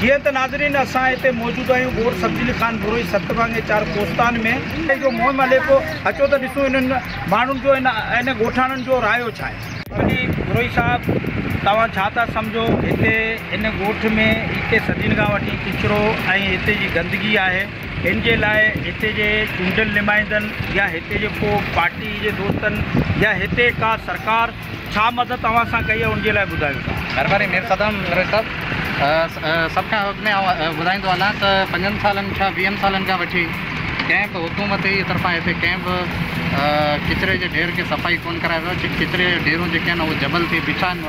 جيئن ته ناظرين اسان هتي موجود آهيون ڳوٺ سبزي علي خان بروهي ست ڀاڱي چار ڪوستان ۾ جو مهم علي پيو اچو ته ڏسون انهن ماڻهن جو ان ڳوٺاڻن جو رايو ڇا آهي علي بروهي صاحب توهان ڇا ٿا سمجهو هتي ان ڳوٺ ۾ ايڪي صدين کان وٺي ڪچرو ۽ هتي جي گندگي آهي ان جي لاء هتي جي چونڊيل نمائندن يا هتي جي ڪو پارٽي جي دوستن يا هتي ڪا سرڪار ڇا مدد اوهان سان ڪئي ان جي لاء ٻڌايو ٿا. مھرباني مير صدام نوريت صاحب سڀ کان اڳ ۾ آئون ٻڌائيندو هلان ته پنجن سالن ڇا ويهن سالن کان وٺي ڪنهن به حڪومت جي طرفان هتي ڪنهن به ڪچري جي ڍير کي صفائي ڪونه ڪرائي ويو ڪچري جا ڍيرون جيڪي آهن اهي جبل ٿي بيٺا آهن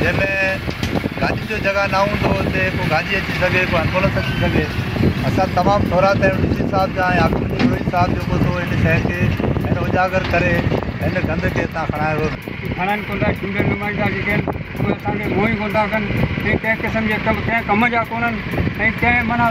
جنهن ۾ گاڏين جو جڳهه نه هوندو هو اتي ڪو گاڏي اچي سگهي ڪو ايمبولنس اچي سگهي اسان تمام ٿورا ته ڊي سي صاحب جا ۽ آبپور جي بروهي صاحب جو پوتو ان شهر کي هن اجاگر ڪري هن گند کي هتان کڻائي ويو کڻن ڪونٿا چونڊيل نمائندا جيڪي آهن اهي اسان کي منهن ئي ڪونٿا ڪن ۽ ڪنهن قسم جي ڪم ڪنهن ڪم جا ڪونهن ۽ ڪنهن معنيٰ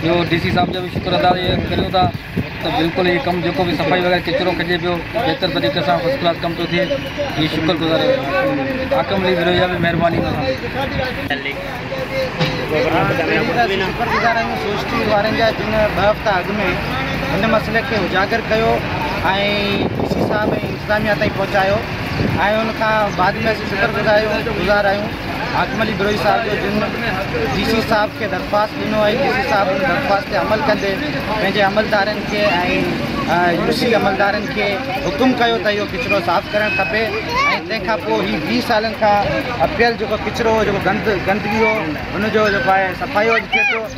ٻيو ڊي سي صاحب جو به شڪر ادا ڪريون ٿا ته بلڪل هي ڪم جيڪو به صفائي وغيره ڪچرو کڄي پيو بهتر طريقي سان فرسٽ ڪلاس ڪم ٿو ٿئي هي شڪر گذار حاڪم علي ورهيو جا به مهرباني سان حاڪم علي بروهي صاحب جو جن ڊي سي صاحب کي درخواست ڏنو آهي ڊي سي صاحب ان درخواست تي عمل ڪندي پنهنجي عملدارن کي ۽ يو سي عملدارن کي حڪم ڪيو ته اهو ڪچرو صاف ڪرڻ کپي ۽ تنهن کان پوء هي ويهه سالن کان اپيل جيڪو ڪچرو هو جيڪو گند گندگي هو ان جو جيڪو آهي صفائي اڄ ٿئي ٿو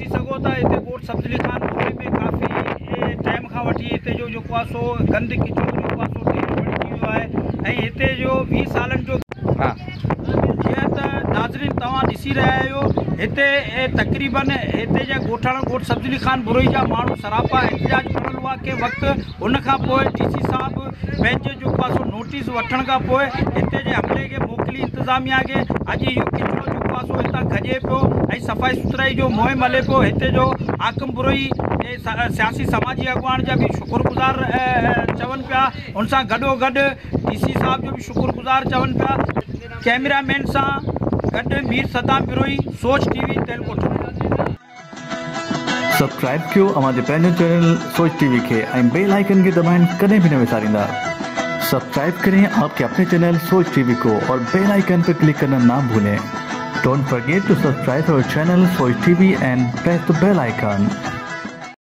ڏسي سگهو ٿا هتي ڳوٺ سبزلي خان پوري ۾ ڪافي ٽائيم کان وٺي هتي جو جيڪو آهي سو گند ڪچرو جيڪو آهي سو ڍير بڻجي ويو آهي ۽ هتي جو ويهه سالن جو ها جيئن ته ناظرين توهان ڏسي رهيا آهيو هتي تقريبن هتي جا ڳوٺاڻا ڳوٺ سبزلي خان بروهي جا ماڻهو سراپا احتجاج ڪرڻ وقت ان کان پوء ڊي سي صاحب پنهنجي جو پاسو نوٽيس وٺڻ کان پوء هتي جي عملي کي موڪلي انتظاميا کي اڄ اهو ڪچرو جو پاسو هتان کڄي پيو ۽ صفائي سٿرائي جو مهم هلي پيو هتي جو حاڪم بروهي سياسي سماجي اڳواڻ جا به شڪر گذار چون پيا ان سان گڏو گڏ ڊي سي صاحب جو به شڪر گذار چون پيا ڪيمرا مين سان گڏ مير صدام بروهي سوچ ٽي وي تيلڪوٽ سبسڪرائب ڪيو اوهان جي پنهنجي چينل سوچ ٽي وي کي ۽ بيل آئيڪن کي دٻائڻ ڪڏهن به نه وساريندا سبسڪرائب ڪرين آپ ڪي اپني چينل سوچ ٽي وي ڪو اور بيل آئيڪن پي ڪلڪ ڪرنا نا ڀولين ڊونٽ فرگيٽ ٽو سبسڪرائب اور channel Soch T V and press ته بيل آئيڪن.